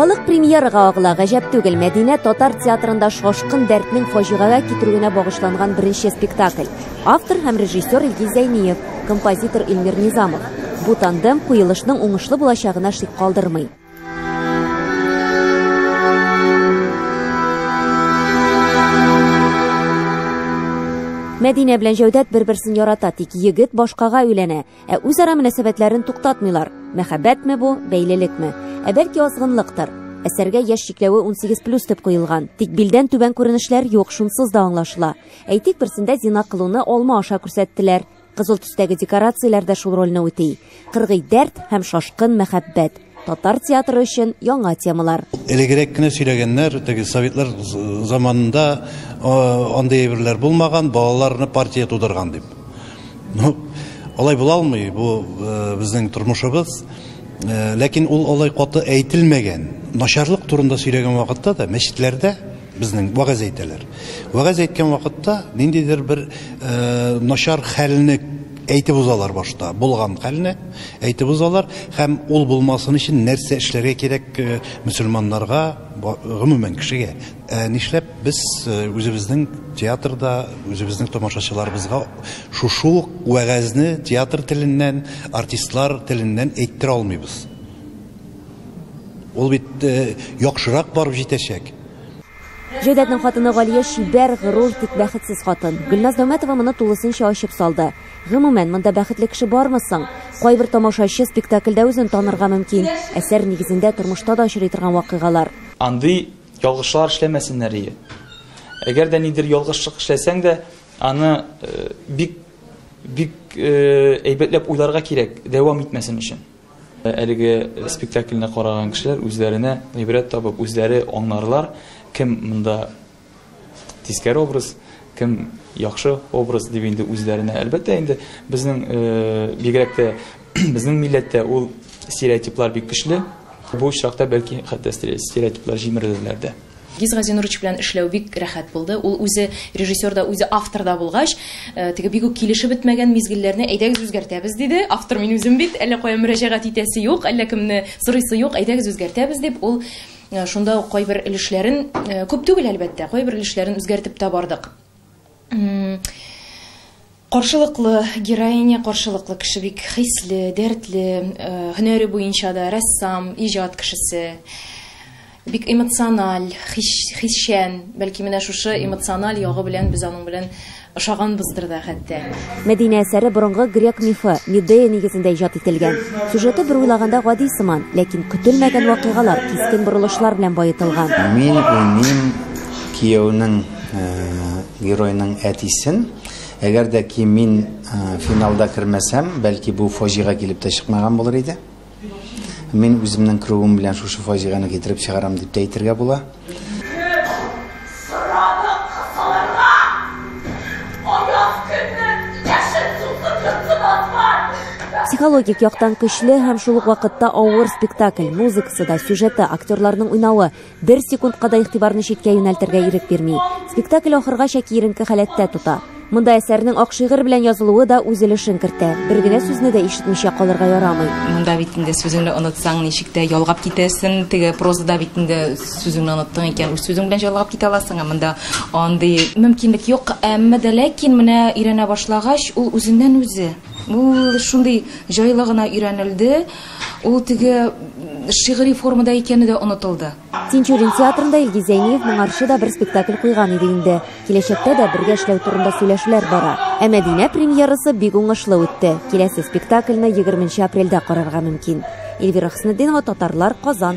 Халык премьерага агыла, гаҗәп түгел, Мәдинә татар театрында шашкын дәртнең фаҗигагә китерүенә багышланган беренче спектакль. Автор һәм режиссер Илгиз Зәйниев, композитор Илмир Низамов. Бу тандем куелышның уңышлы булачагына шик калдырмый. Мәдинә белән Җәүдәт бер-берсен ярата, тик егет башкага өйләнә. Ә үзара мөнәсәбәтләрен туктатмыйлар. Мәхәббәтме бу, бәйлелекме? Ә бәлки азгынлыктыр. Әсәргә яшь чикләве 18 плюс дип куелган. Тик билдән түбән күренешләр юк, шунсыз да аңлашыла. Әйтик, берсендә зина кылуны алма аша күрсәттеләр. Кызыл төстәге декорацияләр дә шул рольне үти. Кыргый дәрт һәм шашкын мәхәббәт. Татар театры өчен яңа темалар. Элегрәк кенә сөйләгәннәр, теге советлар заманында андый әйберләр булмаган, балаларны партия тудырган дип. Ну, алай була алмый, бу э, безнең тормышыбыз. Э, ләкин ул алай каты әйтелмәгән. Начарлык турында сөйләгән вакытта да мәчетләрдә Безнең вәгазь әйтәләр. Вәгазь әйткән вакытта ниндидер бер начар хәлне әйтеп узалар башта, булган хәлне әйтеп узалар һәм ул булмасын өчен нәрсә эшләргә кирәк мөселманнарга, гомумән кешегә. Ә нишләп без үзебезнең театрда, үзебезнең тамашачыларыбызга шушы ук вәгазьне театр теленнән, артистлар теленнән әйттерә алмыйбыз? Ул бит яхшырак барып җитәчәк. Җәүдәтнең хатыны Галия чибәр, горур, тик бәхетсез хатын. Гөлназ Дәүмәтова моны тулысынча ачып салды. Гомумән, монда бәхетле кеше бармы соң? Кайбер тамашачы спектакльдә үзен танырга мөмкин. Әсәр нигезендә тормышта да очрый торган вакыйгалар. Андый ялгышлар эшләмәсеннәр ие. Әгәр дә нидер ялгышлык эшләсәң дә, аны бик, бик әйбәтләп уйларга кирәк, дәвам итмәсен өчен. Әлеге спектакльне караган кешеләр үзләренә гыйбрәт табып, үзләре аңларлар, кем монда тискәре образ, кем яхшы образ дип инде үзләренә. Әлбәттә инде безнең бигрәк тә безнең милләттә ул стереотиплар бик көчле. Бу очракта бәлки хәтта стереотиплар җимерелерләр дә. Гиз Газинурович белән эшләү бик рәхәт булды. Ул үзе режиссер да, үзе автор да булгач, теге бик үк килешеп бетмәгән мизгелләрне әйдәгез үзгәртәбез диде. Автор мин үзем бит, әллә кая мөрәҗәгать итәсе юк, әллә кемне сорыйсы юк, әйдәгез үзгәртәбез дип, ул шунда ук кайбер өлешләрен, күп түгел, әлбәттә, кайбер өлешләрен үзгәртеп тә бардык. Каршылыклы героиня, каршылыклы кеше бик хисле, дәртле, һөнәре буенча да рәссам, иҗат кешесе бик эмоциональ, хисчән, бәлки менә шушы эмоциональ ягы белән без аның белән ошаганбыздыр да хәтта. Мәдинә әсәре борынгы грек мифы, Медея нигезендә иҗат ителгән. Сюжеты бер уйлаганда гади сыман, ләкин көтелмәгән вакыйгалар, кискен борылышлар белән баетылган. Мин уйныйм кияүнең Геройның әтисен. Әгәр дә ки мин финалда кермәсәм, бәлки бу фаҗига килеп тә чыкмаган булыр иде. Мин үземнең керүем белән шушы фаҗиганы китереп чыгарам дип тә әйтергә була. Психологик яктан көчле һәм шул ук вакытта авыр спектакль. Музыкасы да, сюжеты, актерларның уйнавы. Бер секундка да игътибарны читкә юнәлтергә ирек бирми. Спектакль ахыргача киеренке халәттә тота. Монда әсәрнең ак шигырь белән язылуы да үз өлешен кертә. Бер генә сүзне дә ишетмичә калырга ярамый. Монда бит инде сүзеңне онытсаң, ничек тә ялгап китәсең. Теге прозада бит инде сүзеңне оныттың икән, үз сүзең белән җайлап китә аласың, ә монда андый мөмкинлек юк. Әмма дә ләкин менә өйрәнә башлагач, ул үзеннән-үзе, ул шундый җайлы гына өйрәнелде. Ул теге шигъри формада икәне дә онытылды. Тинчурин театрында Илгиз Зәйниев моңарчы да бер спектакль куйган иде инде. Киләчәктә дә бергә эшләү турында сөйләшүләр бара. Ә Мәдинә премьерасы бик уңышлы үтте. Киләсе спектакльне 20 апрельдә карарга мөмкин. Эльвира Хөснетдинова, Татарлар, Казан.